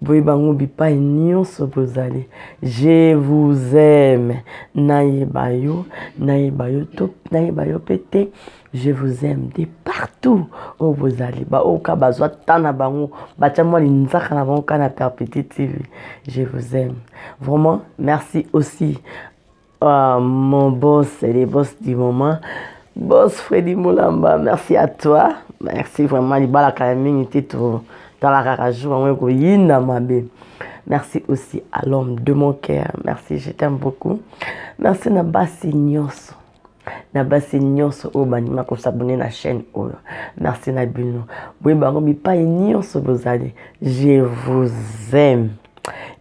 Boye bango bipai nionso bozali je vous aime nayeba yo nayeba yo to nayeba yo pe te je vous aime de partout oyo bozali ba oyo ka bazwa temps na bango batya mwa linzaka na bango ka na perpétuité je vous aime vraiment merci aussi Ah, mon boss, c'est le boss du moment. Boss Freddy Moulamba, merci à toi. Merci vraiment, libala kala mingi te to tala kaka jour yango ekoyinda mabe. Merci aussi à l'homme de mon cœur. Merci, je t'aime beaucoup. Merci na basi nyonso. na basi nyonso oyo bandima kosabone na chaîne oyo merci na bino boye bango bipai nyonso bozali je vous aime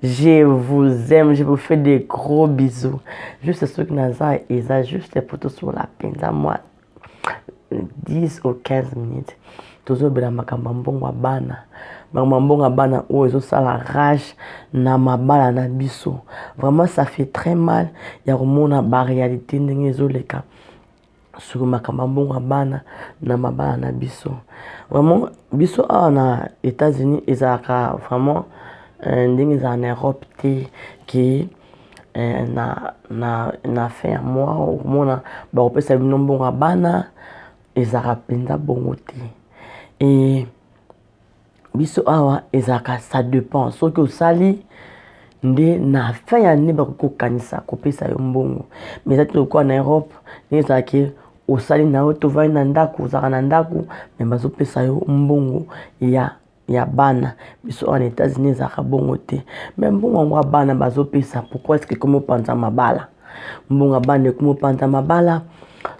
Je vous aime, je vous fais des gros bisous. Juste ce qui n'a pas eza juste pour tous sur la peine à moi 10 ou 15 minutes. Toujours bien makambo mbongo bana. Makambo mbongo bana oyo ezo sala rage na mabala na biso. Vraiment ça fait très mal ya komona ba réalité ndenge ezo leka. sur makambo ya mbongo ya bana na mabala na biso vraiment biso awa na etats unis ezalaka vraiment euh, ndenge ezala na europe te ke euh, na, na, na fin ya mwa okomona bakopesa bino mbongo ya bana ezalaka mpenza bongo te e biso awa ezalaka ça dépend soki osali nde na fin ya année bakoki kokanisa kopesa yo mbongo mais eza te lokola na europe ndenge ezalaki osali na yo tovandi na ndako ozalaka na ndako me bazopesa yo mbongo ya ya bana biso awa na etats-unis ezalaka bongo te me mbongo yango ya bana bazopesa pourkoi ske ekomi opanza mabala mbongo bana ekomopanza mabala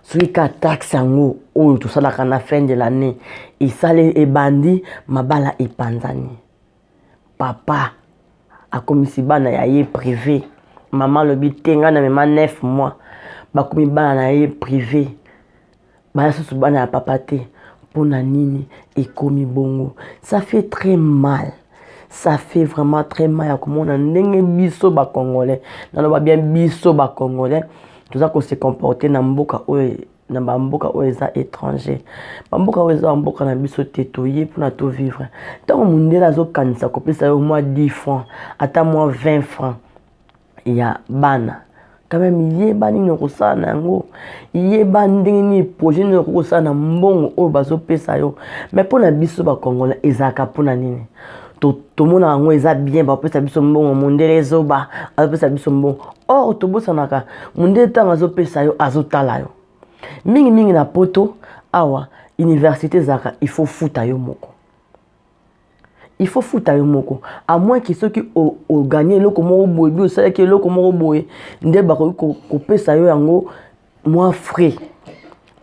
soki ka taxe yango oyo tosalaka na fin de l'année esali ebandi mabala epanzani papa akomisi bana ya ye prive mama alobi te ngai na mema 9 mois bakomi bana na ye prive Baya susu bana ya papa te pona nini ekomi bongo ça fait très mal ça fait vraiment très mal ya komona ndenge biso ba congolais naloba bien biso ba congolais toza ko se comporter na mboka oyo na ba mboka oyo eza etranger ba mboka oyo eza ba mboka na biso te toye pona to vivre tango mundele azokanisa kopesa yo mua 10 francs ata mua 20 francs ya bana quand même yeba nini okosala na yango yeba ndenge nini projet nini okoki kosala na mbongo oyo bazopesa yo mais mpo na biso bakongola ezalaka mpona nini tomonaka yango eza bien bapesa biso mbongo mondele zoba azopesa biso mbongo or tobosanaka mondele ntango azopesa yo azotala yo mingimingi na poto awa université ezalaka il faut futa yo moko il faut futa yo moko à moins que soki oganye eloko moko boye bi osalaki eloko moko boye nde bakoki kopesa yo yango mwa frais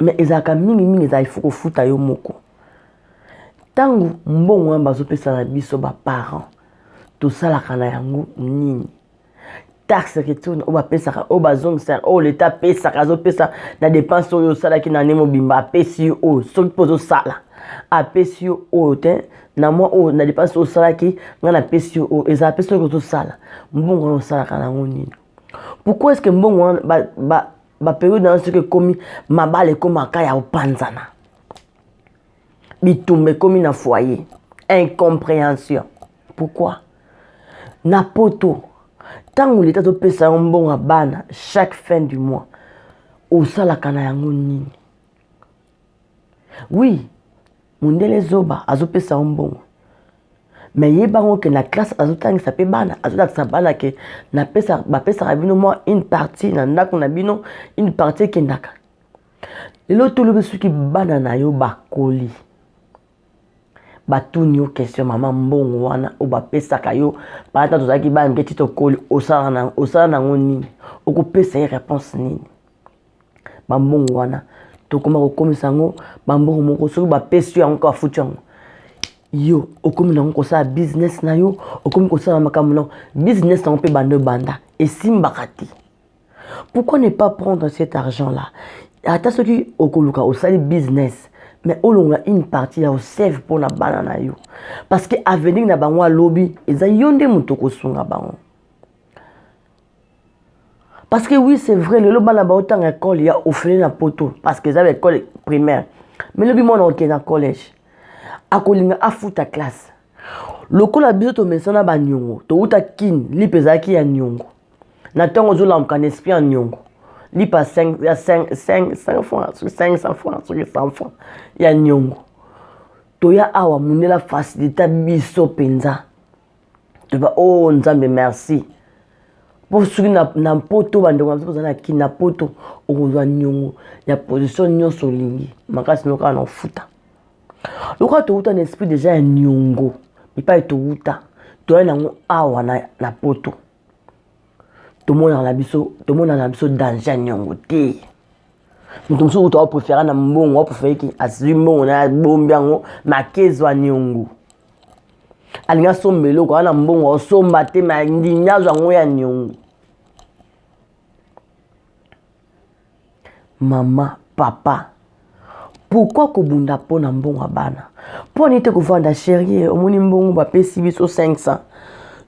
mais ezalaka mingimingi ezala ifo kofuta yo moko ntango mbongo wana bazopesa na biso baparent tosalaka na yango nini taxe retourne oyo bapesaka oyo bazongisa oyo leta apesaka azopesa na dépense oyo osalaki na ane mobimba apesi yo oyo soki mpo ozosala apesi yo oyo te na mwa oyo na dépense oyo osalaki ngai napesi yo oyo ezala mpe soki ozosala mbongo wana osalaka na yango nini pourquoi est ce que mbongo wana baperiode na yo soki ekomi mabala ekomaka ya kopanzana bitumba ekomi na foyer incomprehension pourquoi na poto ntango leta azopesa yo mbongo ya bana chaque fin du mois osalaka na yango nini wi mondele zoba azopesa yo mbongo me yebango ke na classe azotangisa mpe bana azolakisa bana ke bapesaka bino mwa une partie na ndako na bino une partie ekendaka lelo tolobi soki bana na yo bakoli batuni yo question mama mbongo wana oyo bapesaka yo baata tozalaki bana mike ti tokoli osala nango nini okopesa ye réponse nini bambongo wana tokoma kokomisa yango bambongo moko soki bapesi yo yango kaka futi yango yo okomi nango kosala business na yo okomi kosala makambo na business yango mpe bando ebanda esimbaka te Pourquoi ne pas prendre cet argent là ata soki okoluka osali business mais olongola une partie ya osave mpo na bana na yo parce que avenir na bango alobi eza yo nde moto okosunga bango parce que oui c'est vrai lelo bana baotanga ekole ya ofele na poto parce que eza baekole primaire mais lobi mwana oke na collège akolinga afuta classe lokola biso tomesana baniongo touta kine lipe ezalaki ya niongo na ntango ozolamuka na esprit ya niongo lipa 5 ya 5 5 francs soki 500 francs soki 100 francs ya niongo toya awa mundela facilita biso mpenza toba o oh, nzambe merci mpo soki na, na mpoto bandeko na biso bazali na kini na mpoto okozwa niongo ya position nyonso olingi makasi nokaka na ofuta lokola towuta na esprit deja ya niongo epai towuta toyai na yango awa na, na poto tomonaka na biso tomonaka na biso danger ya niongo te moto mosusu kutu aoprefere na mbongo aoprefereki azwi mbongo na abombi yango makezwa niongo alingi asomba eloko ana mbongo aosomba te ma ndingi azwa yango ya niongo Mama, papa pourquoi kobunda mpo na mbongo ya bana? Mpo nini te kovanda cherie, omoni mbongo bapesi biso 500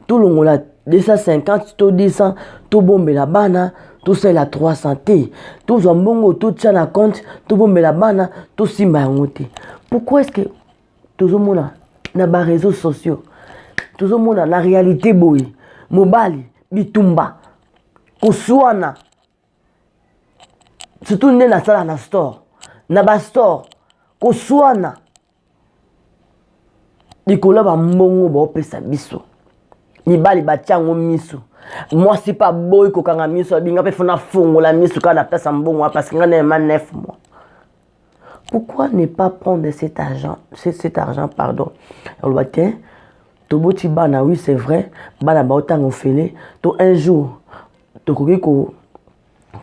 tolongola 250 to 200 tobombela bana tosalela 300 te tozwa mbongo totya na compte tobombela bana tosimba yango te pourquoi est ce que tozomona na bareseau sociaux tozomona na réalité boye mobali bitumba koswana surtout nde nasala na store na bastore koswana likolo ya bambongo baopesa biso mibali batya yango miso mwasi mpe aboyi kokanga miso abinga mpe fona afongola miso kaka na place ya mbongo wana parce nga na ema 9 mois Pourquoi ne pas prendre cet argent, cet, cet argent pardon oloba te toboti bana oui c'est vrai bana baotanga ofele to un jour tokoki ko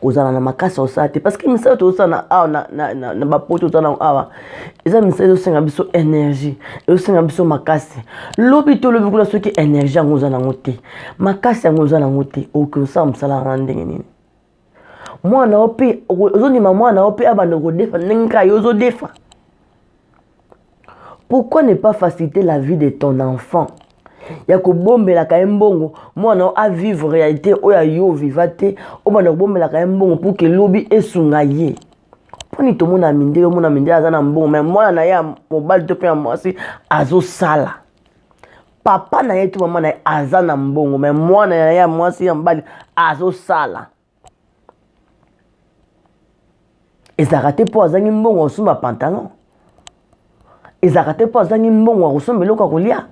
kozala na makasi ya kosala te parce que misala tozosala na awa na, na, na, na bapoto toza nango awa eza misala ezosenga biso énergie ezosenga biso makasi lobi to lobi kuna soki énergie yango oza nango te makasi yango oza nango te okoki kosala mosala yango na ndenge nini mwana ope ozondima mwana ope abanda kodefa ndenge kaka yo ozodefa pourquoi ne pas faciliter la vie de ton enfant ya kobombelaka ye mbongo mwana o avivre réalité oyo ayo oviva te obanda kobombelaka ye mbongo mpo ke lobi esunga ye mponi tomona mindele omona mindele aza na mbongo me mwana na ye ya mobali to mpe ya mwasi azosala papa na ye to mama na ye aza na mbongo me mwana na ye ya mwasi ya mobali azosala ezalaka te mpo azangi mbongo ya kosomba pantalon ezalaka te mpo azangi mbongo ya kosomba eloko ya kolia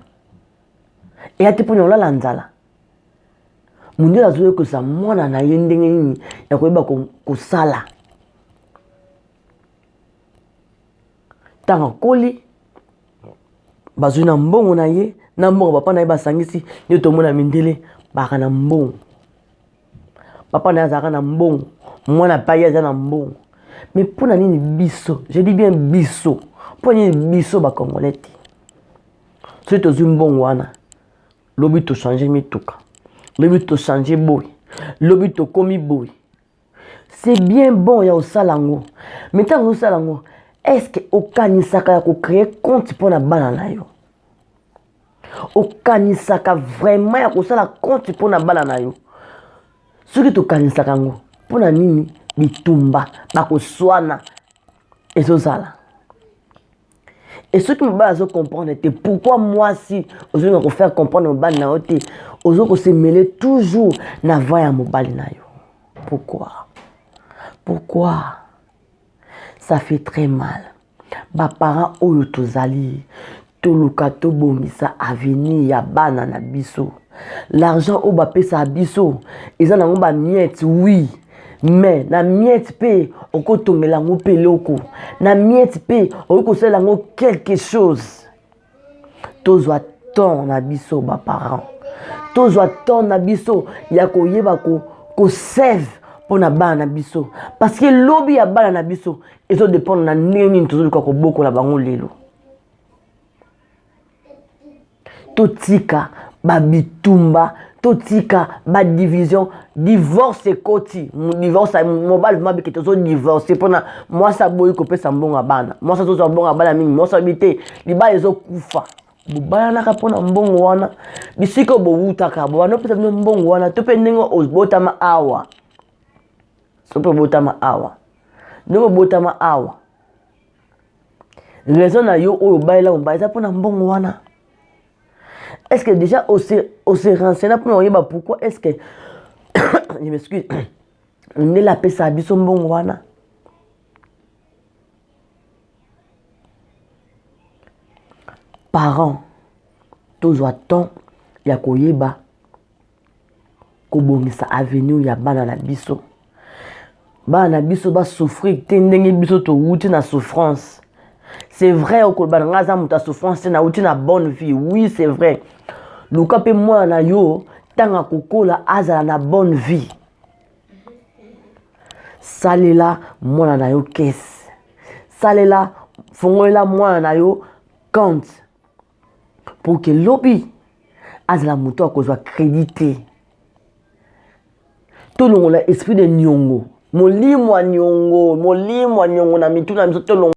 eya te mpo na kolala nzala mondele azoyekosa mwana na ye ndenge nini ya koyeba kosala ntango akoli bazwi na mbongo na ye na mbongo papa na ye basangisi nde tomona mindele baka na mbongo papa na ye azalaka na mbongo mwana pai aza na mbongo mais mpo na nini biso je dis bien biso mpo na nini biso bacongolais te soki tozwi mbongo wana lobi tochange mituka lobi tochange boye lobi tokomi boye c'est bien bon ya kosala yango me ntango ozosala yango estce okanisaka ya kocreye compte mpo na bana na yo okanisaka vraiment ya kosala compte mpo na bana na yo soki tokanisaka yango mpo na nini bitumba bakoswana ezozala et soki mobali azo comprendre te pourquoi mwasi ozolinga kofaire comprendre mobali na yo te ozo kosemele toujours na va ya mobali na yo pourquoi pourquoi ça fait très mal baparent oyo tozali toluka tobongisa avenir ya bana na biso l'argent oyo bapesaka biso eza nango bamiete wi oui. me na miete mpe okotongela yango mpe eloko na miete mpe okoki kosala yango quelque chose tozwa temps na biso baparent tozwa temps na biso ya koyeba kosave mpo na bana na biso parce que lobi ya bana na biso ezodependre na ndenge nini tozoluka kobokola bango lelo totika ba bitumba totika ba division divorce ekoti divorce mobali mwa bikete ozo divorce mpona mwasi aboyi kopesa mbongo ya bana mwasi azozwa mbongo ya bana mingi mwasi abi te libala ezokufa bobalanaka mpona mbongo wana bisika oyo bowutaka bobanda opesa bino mbongo wana to mpe ndenge obotama awa soki obotama awa ndenge obotama awa raison na yo oyo obalela mobali eza mpona mbongo wana est ce que déjà ose renseigne mpona oyeba pourquoi est ce que je m'excuse ndele apesaka biso mbongo wana parent tozwa temps ya koyeba kobongisa avenir ya bana na biso bana na biso basouffrir te ndenge biso towuti na souffrance c'est vrai okoloba na ngai aza moto ya souffrance te nawuti na bonne vie oui c'est vrai luka mpe mwana na yo ntango akokola azala na bonne vie salela mwana na yo kese salela fongolela mwana na yo compte pour que lobi azala moto ya kozwa credit te tolongola esprit de niongo molimo ya niongo molimo ya niongo na mitu na biso tolongola